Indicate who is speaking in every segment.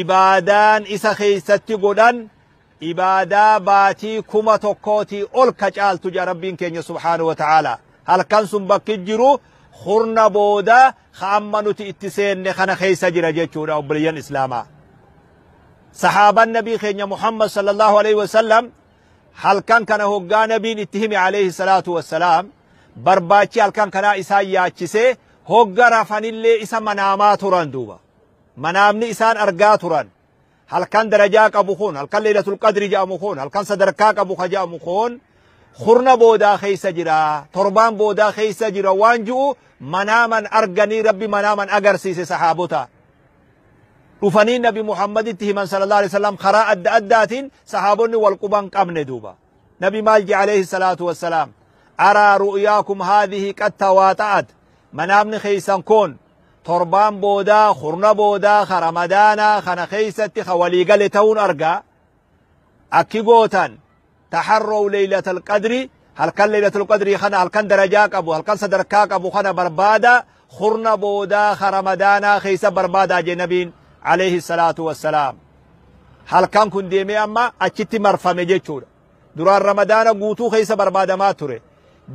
Speaker 1: Ibaadaan isa keessatti godhan ibaadaa baatii kuma tokkootii ol ka caaltu jedha Rabbiin keenya subhaanahu wa ta'aalaa. Halkan sun bakki jiru kurna booda ka amma nuti itti seenne kana keessa jira jechuudha obboleeyyan Islaamaa. Sahaaban Nabii keenya Muhammad sallallahu alaihi wasallam halkan kana hoggaa Nabiin itti hime alaihi salaatu wassalaam barbaachi halkan kanaa isaan yaachisee hogga rafanillee isa manaamaa turan duuba. Manaamni isaan argaa turan halkan darajaa qabu kun, halkan Leeylatul Qadri jedhamu kun, halkan sadarkaa qabu ka jedhamu kun kurna boodaa keessa jira, torbaan boodaa keessa jira waan ji'u manaaman arganii Rabbi manaaman agarsiise sahaabota. Dhufanii Nabi Muhammaditti himan sallallahu alaihi wasallam karaa adda addaatiin sahaabonni wal quban qabne duuba. Nabi maal jedhe alaihi salaatu wassalaam araa ru'yaakum haadhihi qad tawaaxa'at manaamni keessan kun torbaan boodaa kurna boodaa ka ramadaanaa kana keeysatti ka walii gale ta'uun arga akki gootan taharrow leeylatal qadri halkan leeylatul qadrii kana halkan darajaa qabu halkan sadarkaa qabu kana barbaada kurna boodaa ka ramadaanaa keeysa barbaadaa jee nabiin alayhi salaatu wassalaam halkan kun deemee amma achitti marfame jechuudha Duraan Ramadaana guutuu keessa barbaadamaa ture.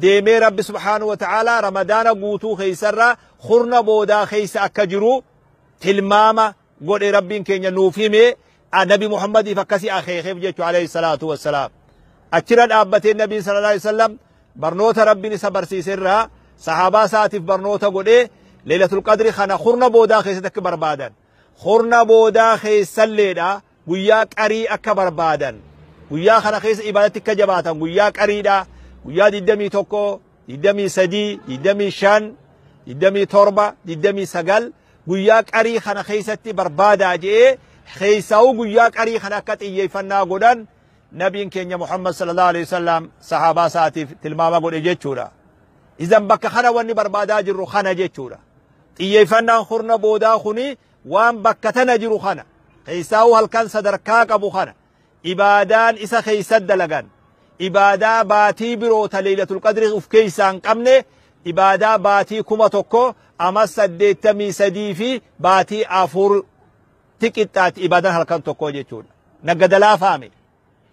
Speaker 1: Deemee Rabbi subhaanahu wa ta'aalaa Ramadaana guutuu keessarraa kurna boodaa keessa akka jiru tilmaama godhe Rabbiin keenya nuuf hime Nabi Muhammadiif akkasii akeekeef jechu alayhi salaatu wassalaam. Achirra dhaabbatee Nabiin sallallahu alayhi wasallam barnoota Rabbiin isa barsiise irraa sahaabaa isaatiif barnoota godhee Leelatul Qadri kana kurna boodaa keessatti akka barbaadan. Kurna boodaa keessalleedha guyyaa qarii akka barbaadan guyyaa kana keessa ibaadatti akka jabaatan guyyaa qariidha guyyaa 21 23 25 27 29 guyyaa qarii kana keessatti barbaadaa je'ee keessaa'uu guyyaa qarii kana akka xiyyeeffannaa godhan nabiin keenya Muhammad sallallahu alaihi wasallam sahaabaa isaatiif tilmaama godhe jechuudha. Izan bakka kana wanni barbaadaa jirru kana jechuudha. Xiyyeeffannaan kurna boodaa kun waan bakka tana jiru kana, keessaahuu halkan sadarkaa qabu kana, ibaadaan isa keessatti dalagan, ibaadaa baatii biroo ta leeylatul qadrii uf keessaa hin qabne, ibaadaa baatii 1000, amas 83 fi baatii 4 ti qixxaatti ibaadaan halkan tokkoo jechuudha. Naggadalaafaa me.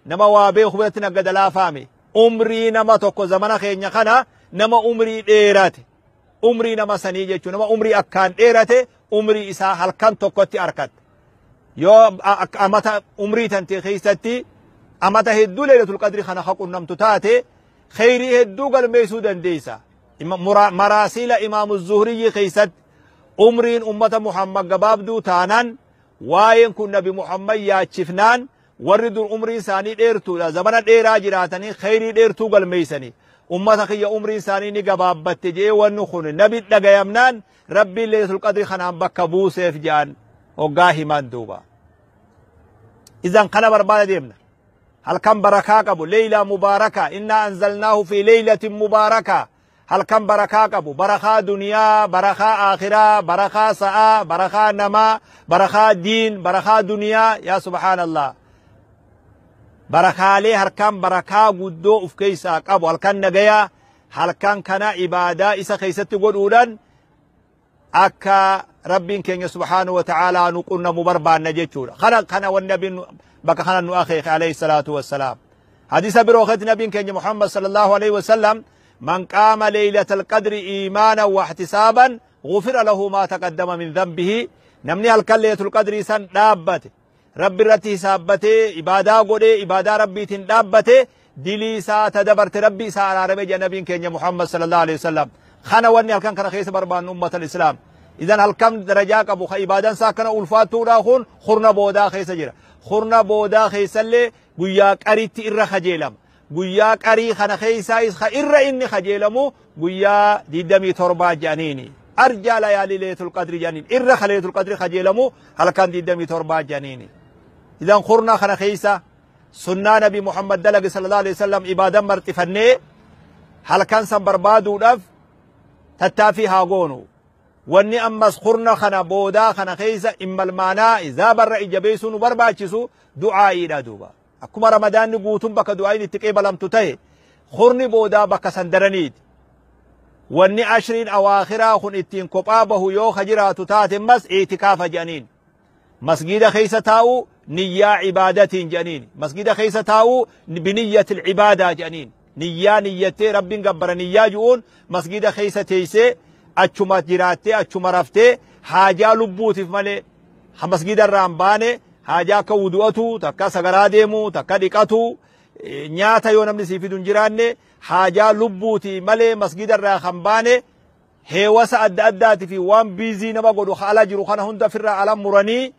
Speaker 1: Nama waa beeku biratti naggada laafaa mi? Umrii nama tokko zamana keenya kana nama umrii dheerate umrii nama sanii jechuun nama umrii akkaan dheerate umrii isaa halkan tokkotti arkatta. Yoo a- ak- amata umrii tantee keessatti amata hedduu leelatul qadri kana ka qunnamtu taate kheyrii hedduu galmeessuu dandeessa. Ima- mura- Maraasiila imaamu zuhriyyii keessatti umriin ummata Muhammad gabaabduu taanaan waa'een kun nabi Muhammad yaachifnaan Warri dur umriin isaanii dheertuudha, zamana dheeraa jiraatanii kheyrii dheertuu galmeeysanii, ummata kiyya umriin isaanii ni gabaabbatte je'ee wanni kun nabi dhagayamnaan Rabbiin Leeylatul Qadrii kanaan bakka buuseef je'an hoggaa himan duuba. Izan kana barbaada deemna. Halkan barakaa qabu, leeylaa mubaarakaa, innaa anzalnaahu fi leeylatin mubaarakaa, halkan barakaa qabu barakaa duniyaa barakaa aakhiraa barakaa sa'aa barakaa namaa barakaa diin barakaa duniyaa yaa subhaanallah barakaalee harkaan barakaa guddoo uf keessaa qabu halkan nagayaa halkan kana ibaadaa isa keessatti godhuudhaan akka rabbiin keenya subhaanahu wa ta'aalaa nu qunnamu barbaanna jechuudha kana kana wanni nabiin bakka kana nu akeeke alayhi salaatu wassalaam hadiisa biroo keessatti nabiin keenya muhammad sallallahu alayhi wasallam man qaama leeylatal qadri iimaanan wa ihtisaaban gufira lahu maa taqaddama min dhanbihi namni halkan leeylatul qadrii san dhaabbate Rabbi irratti hisaabbatee ibaadaa godhee ibaadaa rabbiitiin dhaabbate dilii isaa ta dabarte rabbi isaa araarame jedha nabiin keenya Muhammad sallallahu alaihi wasallam kana wanni halkan kana keessa barbaannu ummata islaam idan halkan darajaa qabu ka ibaadan isaa akkana ulfaattuudha kun kurna boodaa keessa jira kurna boodaa keessallee guyyaa qaritti irra kajeelama Guyyaa qarii kana keessaayis ka irra inni kajeelamu guyyaa 27 jedhaniini. Arjaa layaalii leetul qadri jedhaniin. Irra ka leetul qadri kajeelamu halkan 27 jedhaniini. Idan kurna kana keessa sunnaa nabi Muhammad dalage sallallahu alaihi wasallam ibaadan marxifannee halkan san barbaaduudhaaf tattaaffii haa goonu. Wanni ammas kurna kana boodaa kana keessa immalmaanaa zaabarra ija beeksuu nu barbaachisu du'aa'iidha duuba. Akkuma Ramadaanni guutuun bakka du'aayin itti qeebalamtu ta'e, kurni boodaa bakka san daraniiti. Wanni ashriin awaakhiraa kun ittiin kophaa bahu yoo ka jiraatu taate ammas i'tikaafa jedhaniin. Masgiida keessa taa'uu niyyaa ibaadatiin jedhaniin. Masgiida keessa taa'uu biniyyatil ibaadaa jedhaniin. Niyyaa niyyattee Rabbiin gabbara niyyaa ju'uun masgiida keessa teessee achuma jiraattee achuma raftee haajaa lubbuutiif malee ha masgiida irraa hin baane haajaa akka wudu'atu takka sagaraa deemu takka dhiqatu nyaata yoo namni sii fidu hin jiraanne haajaa lubbuuti malee masgiida irraa kan baane heewasa adda addaati fi waan biizii nama godhu ala jiru kana hunda firraa ala muranii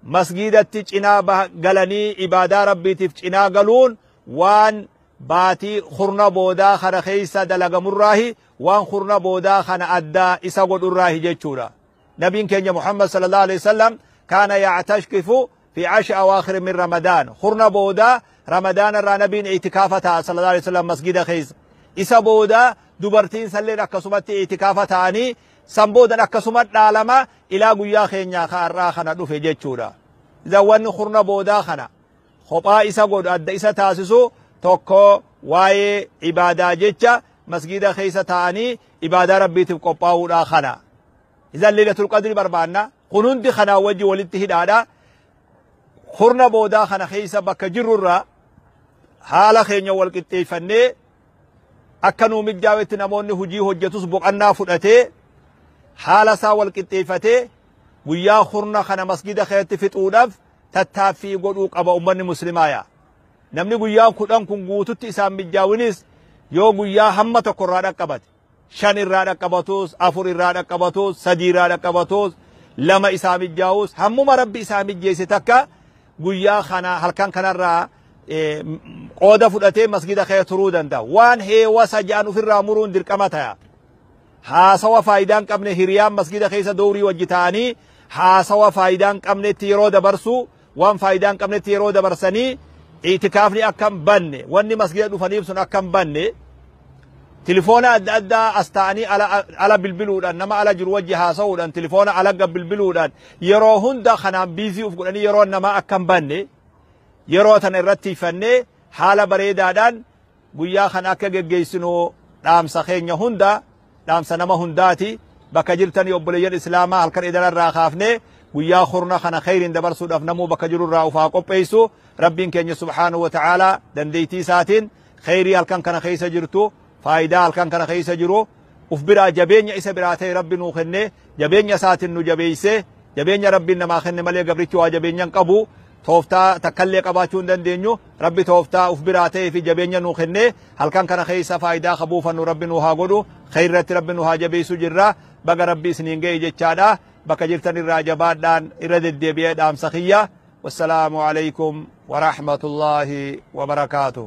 Speaker 1: Masgiidatti cinaa baha galanii ibaadaa Rabbiitiif cinaa galuun waan baatii kurna boodaa kana keessa dalagamurraahi, waan kurna boodaa kana adda isa godhurraahi jechuudha. Nabiin keenya Muhammad sallallaahu aleyhi wa sallam kaana ya'tashkifu fi ashri awaakhiri min Ramadaan. Kurna boodaa Ramadaanarraa Nabiin i'tikaafa taa'a sallallaahu aleyhi wa sallam masgiida keessa. Isa booda dubartiinsalleen akkasumatti i'tikaafa taa'anii San boodan akkasuma dhaalama ilaa guyyaa keenyaa ka har'aa kana dhufe jechuudha. Idan wanni kurna boodaa kana kophaa isa godhu adda isa taasisu tokko waa'ee ibaadaa jecha masgiida keessa taa'anii ibaadaa rabbiitiif qophaa'uudhaa kana. Idan leelatul qadri barbaanna. Kun hundi kanaa wajji walitti hidhaadha. Kurna boodaa kana keessa bakka jirrurraa haala keenya wal qixxeeffannee Akka nuu mijjaawetti namoonni hujii hojjatus boqannaa fudhatee haala isaa wal qixxeeffatee guyyaa kurna kana masgida keessatti fixuudhaaf tattaaffii godhuu qaba ummanni muslimaa yaa. Namni guyyaan kudhan kun guututti isaan mijjaawinis yoo guyyaa hamma tokko irraa dhaqqabate. shan irraa dhaqqabatus, afur irraa dhaqqabatus, sadii irraa dhaqqabatus, lama isaa mijjaawus hammuma Rabbi isaa mijjeesse takka guyyaa kana halkan kanarraa qooda fudhatee masgida kee turuu danda'a. Waan heewasa ja'an ofirraa muruun dirqama ta'a. Haasawa faayidaan qabne hiriyaan masgida keessa doorii wajji ta'anii haasawa faayidaan qabnetti yeroo dabarsuu Waan faayidaa hin qabnetti yeroo dabarsanii iitikaafni akka hin banne wanni masgida dhufaniif sun akka hin banne tilifoona adda addaa as ta'anii ala, ala bilbiluudhaan nama ala jiru wajji haasa'uudhaan tilifoona alagga bilbiluudhaan yeroo hunda kanaan biizii uf godhanii yeroo namaa akka hin banne yeroo tana irratti ifannee haala bareedaadhaan Guyyaa kana akka geggeessinu dhaamsa keenya hunda dhaamsa nama hundaati. Bakka jirtanii obboleeyyan Islaamaa halkan edana irraa kaafnee guyyaa kurna kana kheyriin dabarsuudhaaf namuu bakka jiru irraa ufaa qopheessu. Rabbiin keenya subhaanahu wa ta'aalaa dandeettii isaatiin kheyrii halkan kana keessa jirtu faayidaa halkan kana keessa jiru uf biraa jabeenya isa biraa ta'e Rabbi nuu kenne jabeenya isaatin nu jabeeyse jabeenya Rabbiin namaa kenne malee gabrichi waa jabeenya hin qabu tooftaa takkallee qabaachuu hin dandeenyu Rabbi tooftaa uf biraa ta'ee fi jabeenya nuu kenne halkan kana keessa faayidaa ka buufannu Rabbi nuu haa godhu kheyratti Rabbi nuu haa jabeeysu jirra baga Rabbi isiniin ga'e jechaadha bakka jirtan irraa jabaadhaan irra deddeebi'ee dhaamsa kiyya wassalaamu alaykum wa rahmatullaahi wa barakaatuh